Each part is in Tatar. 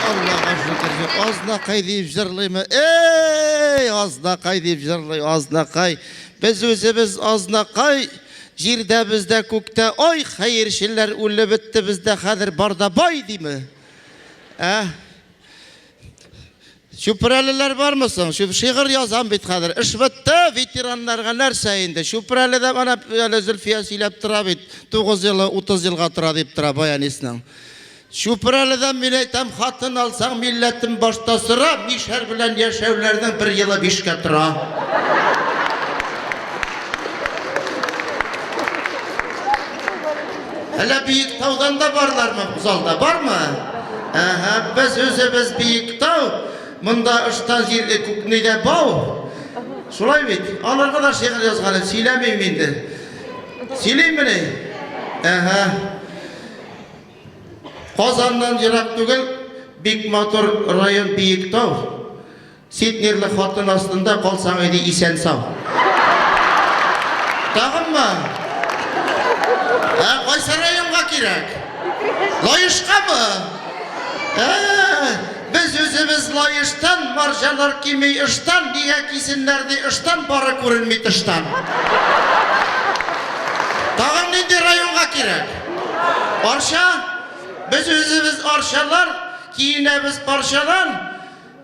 Аллага шөкер, юк. Азнакай дип җырлыймы? Эй, азнакай дип җырлый, азнакай. Без үзебез азнакай, җирдә бездә күктә. Ой, хәерчеләр үлеп бетте бездә, хәзер барда бай диме? Ә? Чүпрәлеләр бармы соң? Чүп шигырь язам бит хәзер. Эш бетте, ветераннарга нәрсә инде? Чүпрәледә менә әле Зөлфия сөйләп тора бит. 9 елы 30 елга тора дип тора баянистның. Чүпрәледән мин әйтәм, хатын алсаң, милләтен башта сора, мишәр белән яшәүләрнең бер елы бишкә тора. Әллә биек таудан да барлармы бу залда? Бармы? Әһә, без үзебез биек тау. Монда ыштан җирле күкнегә бау. Шулай бит. Аларга да шигырь язган, сөйләмим инде. Сөйлимени? Әһә. Казаннан ерак түгел, бик матур район Биектау. Син ирле хатын астында калсаң иде исән сау. Тагынмы? Ә кайсы районга кирәк? Лаешкамы? Без үзебез лаештан, марҗалар кими ыштан, нигә кисеннәр ди ыштан, бары күренми тыштан. Тагын нинди районга кирәк? Арча? Без үзебез арчалар, киенәбез парчадан,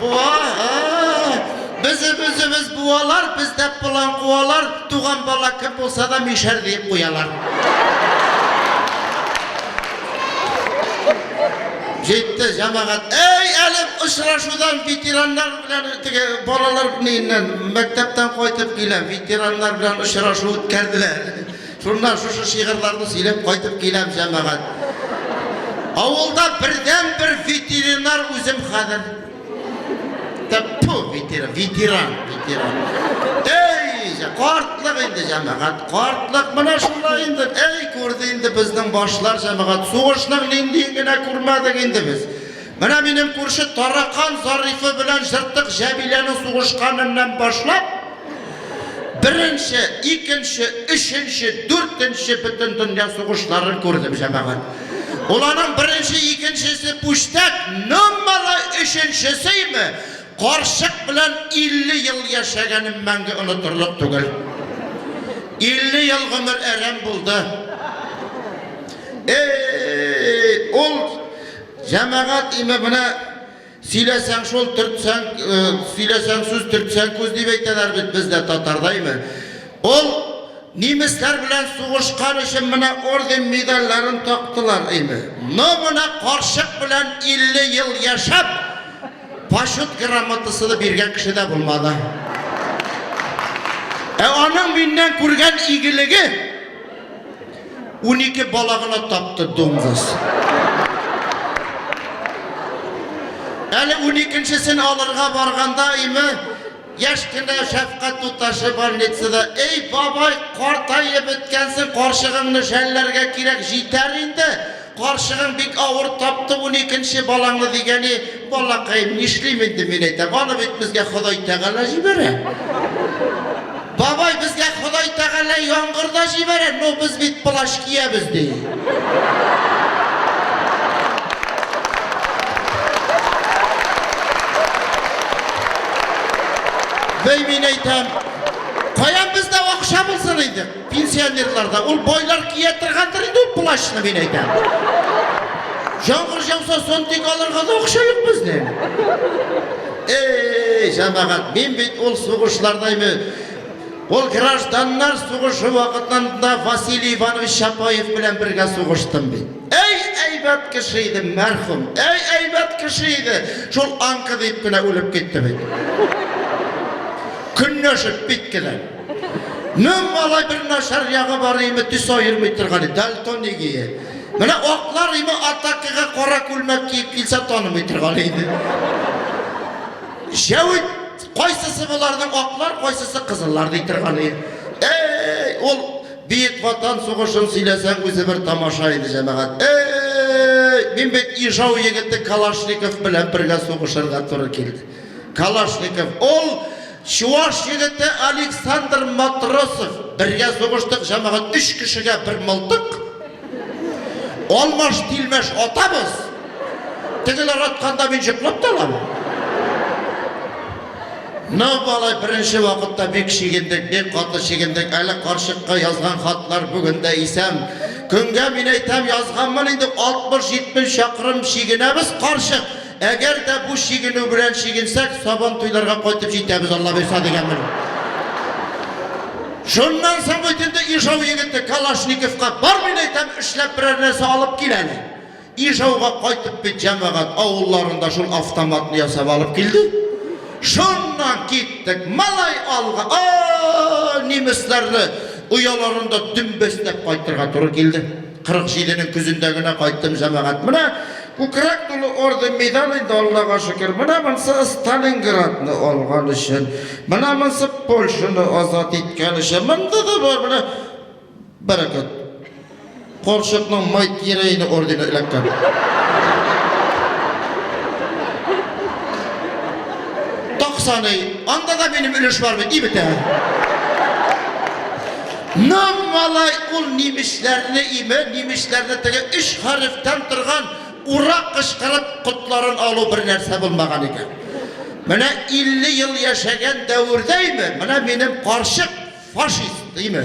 Буа, ә-ә-ә! Без үзебез буалар, бездә план куалар, туган бала кем булса да мишәр диеп куялар. Җитте җәмәгать. Әй, әле очрашудан ветераннар белән теге балалар ниннән мәктәптән кайтып килә, ветераннар белән очрашу үткәрделәр. Шуннан шушы шигырьләрне сөйләп кайтып киләм, җәмәгать. Авылда бердән бер ветеринар үзем хәзер. Тәппу ветеран, ветеран, ветеран. Эй, картлык инде җәмәгать, картлык менә шулай инде. Эй, күрде инде безнең башлар җәмәгать. Сугышның ниндиен генә күрмәдек инде без. Менә минем күрше Таракан Зарифы белән Җыртык Җәмиләнең сугышканыннан башлап, беренче, икенче, өченче, дүртенче Бөтендөнья сугышларын күрдем, җәмәгать. Ул аның беренче, икенчесе пүчтәк, номеры өченчесеме, карчык белән 50 ел яшәгәнем мәңге онытырлык түгел. 50 ел гомер әрәм булды. Эй, ул Җәмәгать имамына сөйләсәң шул, төртсәң, э, сөйләсәң сүз, төртсәң күз дип әйтәләр бит бездә татардаймы. Ул немецлар белән сугышкан өчен менә орден медальләрен тактылар име. Но менә карчык белән 50 ел яшәп, почет грамотасыны биргән кеше дә булмады. Ә аның миннән күргән игелеге 12 бала гына тапты дуңгыз. Әле 12-сен алырга барганда име яшь кенә шәфкать туташы больницада эй бабай картаеп беткәнсең карчыгыңны жәлләргә кирәк җитәр инде Карчыгың бик авыр тапты уникенче балаңны дигәни, балакаем, нишлим инде мин әйтәм, аны бит безгә Ходай Тәгалә җибәрә. Бабай безгә Ходай Тәгалә яңгырда җибәрә, но без бит плащ киябез ди. Бәй мин әйтәм, каян бездә акча булсын инде? Пенсионерларда ул байлар кия торгандыр инде ул плащны мин әйтәм. Җаңгыр җауса сондик алырга да акча юк безнең. Эй, җәмәгать, мин бит ул сугышлардаймы? Ул гражданнар сугышы вакытында Василий Иванович Чапаев белән бергә сугыштым бит. Әй, әйбәт кеше иде, мәрхүм. Әй, әйбәт кеше иде. Шул аңкы дип кенә үлеп китте бит. Көнләшеп бит кенә. Нөм малай бер начар ягы бар име, төс аермый торган иде, дальтон игие. Менә аклар име атакага кара күлмәк киеп килсә танымый торган иде. Җәвит кайсысы боларның аклар, кайсысы кызыллар ди торган иде. Эй, ул бит ватан сугышын сөйләсәң үзе бер тамаша иде җәмәгать. Эй, мин бит Ижау егете Калашников белән бергә сугышырга туры килде. Калашников, ул Чуваш егете Александр Матросов, бергә сугыштык, җәмәгать өч кешегә бер мылтык. Алмаш-тилмәш атабыз. Тегеләр атканда мин җыклап та аламын. Ну, балай, беренче вакытта бик шигендек, бик каты шигендек. Әле карчыкка язган хатлар бүген дә исәм. Көнгә мин әйтәм, язганмын инде 60-70 чакрым шигенәбез карчык. Әгәр дә бу чигенү белән чигенсәк, Сабантуйларга кайтып җитәбез, Аллабирса, дигәнмен. Шуннан соң үтенде Ижау егете Калашниковка, бар мин әйтәм, эшләп берәр нәрсә алып кил әле. Ижауга кайтып бит җәмәгать авылларында шул автоматны ясап алып килде. Шуннан киттек, малай алга, о, немецларны ояларында дөмбәстәп кайтырга туры килде. 47 нең көзендә генә кайттым, җәмәгать. Менә күкрәк тулы орден, медаль инде, Аллага шөкер. Менә монсы Сталинградны алган өчен, менә монсы Польшаны азат иткән өчен. Монда да бар, менә бәрәкәт. Карчыкның Майт Ерейны ордены эләккән. Токсаный. Анда да минем өлеш бар бит, и бетә. Ном малай ул нимешләрне име, нимешләрне теге өч хәрефтән торган ура кычкырып котларын алу бер нәрсә булмаган икән. Менә 50 ел яшәгән дәвердә име, менә минем карчык фашист име.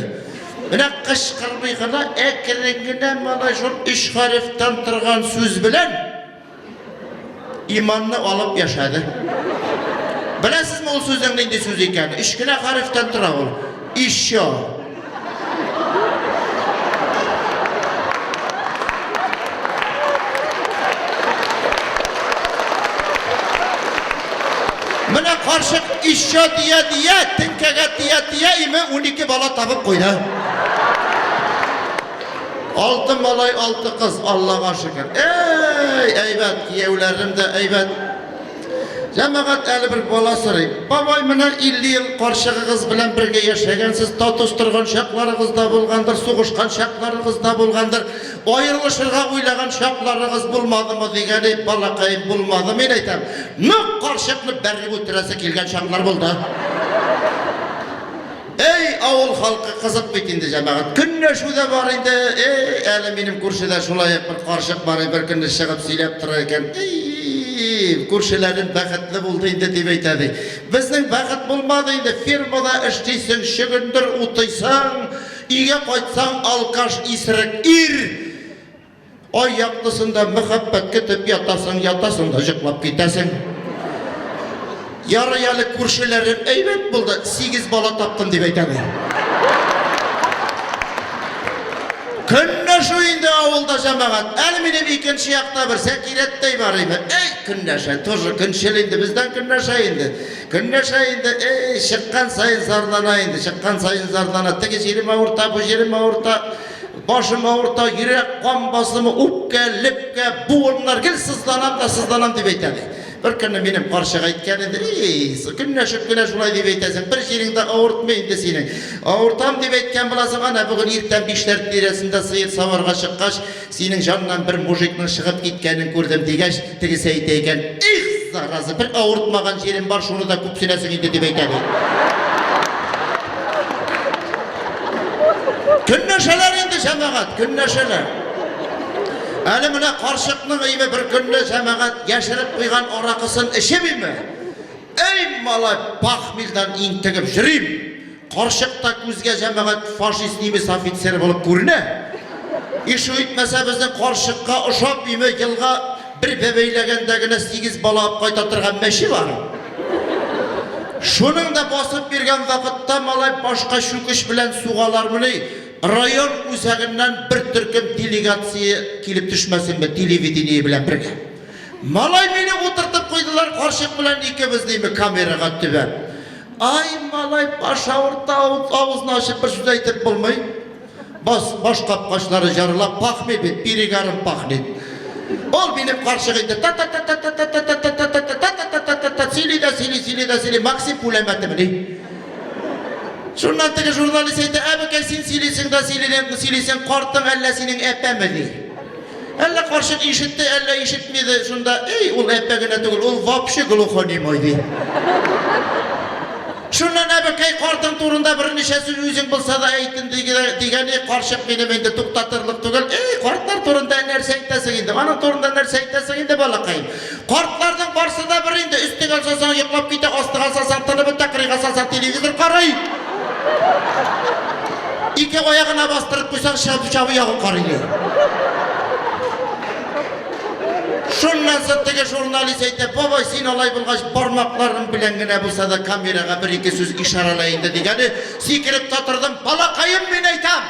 Менә кычкырмый гына, әкрен генә малай шул өч хәрефтән торган сүз белән Иманны алып яшәде. Беләсезме ул сүзнең нинди сүз икәнен? Өч кенә хәрефтән тора ул. Еще. Менә карчык еще дия дия, теңкәгә тия тия име 12 бала табып куйды. Алты малай, алты кыз, Аллага шөкер. Әй, әйбәт, кияүләрем дә әйбәт. Җәмәгать әле бер бала сорый. Бабай, менә 50 ел каршыгыгыз белән бергә яшәгәнсез, татус торган чакларыгыз да булгандыр, сугышкан чакларыгыз да булгандыр. Аерылышырга уйлаган чакларыгыз булмадымы дигәне балакай булмады. Мин әйтәм, нык каршыкны бәреп үтерәсе килгән чаклар булды. Әй, авыл халкы кызык бит инде, җәмәгать. Көнләшү дә бар инде. Әй, әле минем күршедә шулай ук бер карчык бар, бер көнне чыгып сөйләп тора икән. Әй, күршеләрем бәхетле булды инде дип әйтә ди. Безнең бәхет булмады инде. Фермада эшлисең, чөгендер утыйсың, өйгә кайтсаң, алкаш исерек ир. Ай яктысында мәхәббәт көтеп ятасың, ятасың да җыклап китәсең. Ярый әле күршеләрем әйбәт булды, сигез бала таптым дип әйтәләр. Көнләшү инде авылда җәмәгать. Әле минем икенче якта бер Сәкирәттәй бар иде. Эй, көнләшә, тоже көнчел инде, бездән көнләшә инде. Көнләшә инде, эй, чыккан сайын зарлана инде, чыккан сайын зарлана. Теге җирем авырта, бу җирем авырта. Башым авырта, йөрәк кан басымы, үпкә, лепкә, буыннар гел сызланам да сызланам дип әйтә ди. Бер көнне минем карчык әйткән иде, ей, көнләшеп кенә шулай дип әйтәсең, бер җирең дә авыртмый инде синең. Авыртам дип әйткән буласың, ана бүген иртән бишләр тирәсендә сыер саварга чыккач, синең җаннан бер мужикның чыгып киткәнен күрдем дигәч, Тегесе әйтә икән, их, зараза, бер авыртмаган җирем бар, шуны да күп сөйләсең инде дип әйтә бит. Көнләшәләр инде җәмәгать, көнләшәләр. Әле менә карчыкның име бер көнне җәмәгать яшереп куйган аракысын эчеп име? Эй, малай, пахмилдан интегеп җөрим. Карчык та күзгә җәмәгать фашист немец офицеры булып күренә. Ишу итмәсә безнең карчыкка ошап име елга бер бәбәйләгәндә генә сигез бала алып кайта торган мәче бар. Шуның да басып биргән вакытта малай башка чүкеш белән сугалармыни, район үзәгеннән бер төркем делегация килеп төшмәсенме телевидение белән бергә. Малай мине утыртып куйдылар карчык белән икебез дими камерага төбәп. Ай, малай баш авырта, авызын ачып бер сүз әйтеп булмый. Бас, баш капкачлары жарылап пахмый бит, перегарым пахнет. Ул минем карчык инде та та та та та та та та та та та та та та та та та сөйли дә сөйли, сөйли дә сөйли, Максим пуләмәте мени. Шуннан теге журналист әйтә, әбекәй, син сөйлисең дә сөйлисең, картың әллә синең әпәмени? Әллә карчык ишетте, әллә ишетмиде, шунда, эй, ул әппә генә түгел, ул вообще глухонемой, ди. Шуннан әбекәй картың турында берничә сүз үзең булса да әйтен дигәне карчык минем инде туктатырлык түгел. Эй, картлар турында нәрсә әйтәсең инде? Аның турында нәрсә әйтәсең инде, балакаем? Картларның барсы да бер инде, өстегә салсаң йоклап китә, астыга салсаң тынып бетә, кырыйга салсаң телевизор карый. Ике аягына бастырып куйсаң чабы чабы ягын карыйлар. Шуннан соң теге журналист әйтә, бабай, син алай булгач, бармакларың белән генә булса да камерага бер-ике сүз ишарәлә инде, дигәне, сикереп тә тордым, балакаем, мин әйтәм!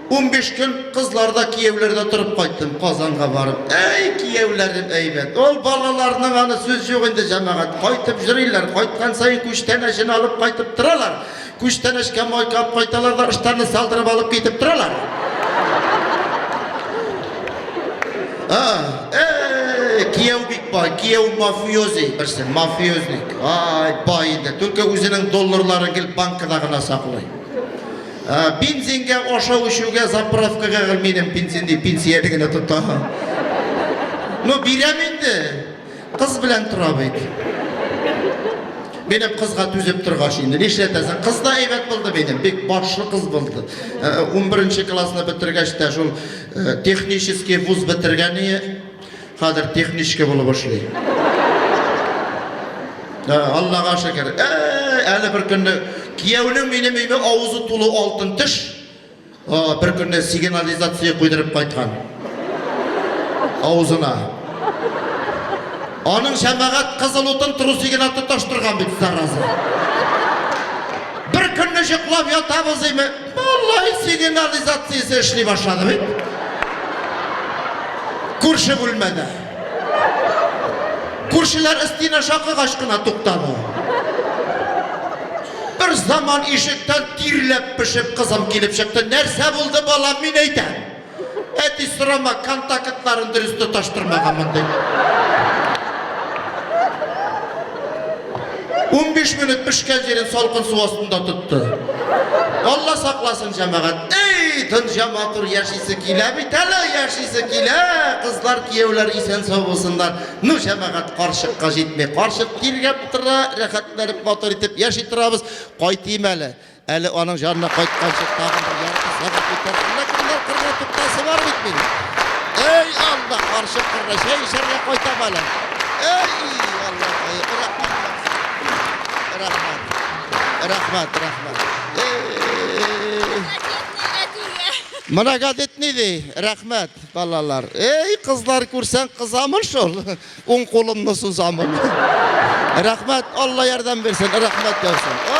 15 көн кызларда кияүләрдә торып кайттым Казанга барып. Әй, кияүләрем әйбәт. Ул балаларның аны сүз юк инде җәмәгать. Кайтып җөриләр, кайткан саен күчтән әчен алып кайтып торалар. Күчтән әчкә майкап кайталар да ыштанны салдырып алып китеп торалар. А, э, кияү бик бай, кияү мафиози берсе, мафиозник. Ай, бай инде, только үзенең долларларын гел банкада гына саклый. Бензинга ашау эчүгә заправкага гелминем бензин ди пенсияне генә тота. Ну бирәм инде. Кыз белән тора бит. Минем кызга түзеп торгач инде нишләтәсең? Кыз да әйбәт булды минем, бик башлы кыз булды. 11 классны бетергәч тә шул технический вуз бетергәне Хәзер техничка булып эшли. Ә, Аллага шөкер. Ә, әле бер көнне кияүнең минем өйме авызы тулы алтын теш. А, бер көнне сигнализация куйдырып кайткан. Авызына. Аның шәмәгать кызыл утын трусигына тоташтырган бит зараза. Бер көнне җыклап ятабыз име, Малай сигнализациясе эшли башлады бит. Күрше бүлмәдә. Күршеләр өстенә шакыгач кына туктады. Бер заман ишектән тирләп-пешеп кызым килеп чыкты. Нәрсә булды, балам, мин әйтәм. Әти, сорама, контактларын дөрес тоташтырмаган мондый. 15 минут пешкән җирен салкын су астында тотты. Алла сакласын җәмәгать. Эй, дөнья матур яшисе килә бит әле, яшисе килә. Кызлар, кияүләр исән сау булсыннар. Ну, җәмәгать карчыкка җитми. Карчык тиргәп тора, рәхәтләнеп матур итеп яши торабыз. Кайтыйм әле. Әле аның җанына кайтканчы тагын бер ярты сәгать үтәр. Ләкин бар кырга туктасы бар бит минем. Эй, Алла, каршы кырга чәй эчәргә кайтам әле. Эй, Алла, рәхмәт. Рәхмәт. Рәхмәт, рәхмәт. Мына газет ни ди? Рәхмәт, балалар. Эй, кызлар күрсәң кызамы шул? Уң кулымны сузамын. Рәхмәт, Алла ярдәм бирсен, рәхмәт яусын.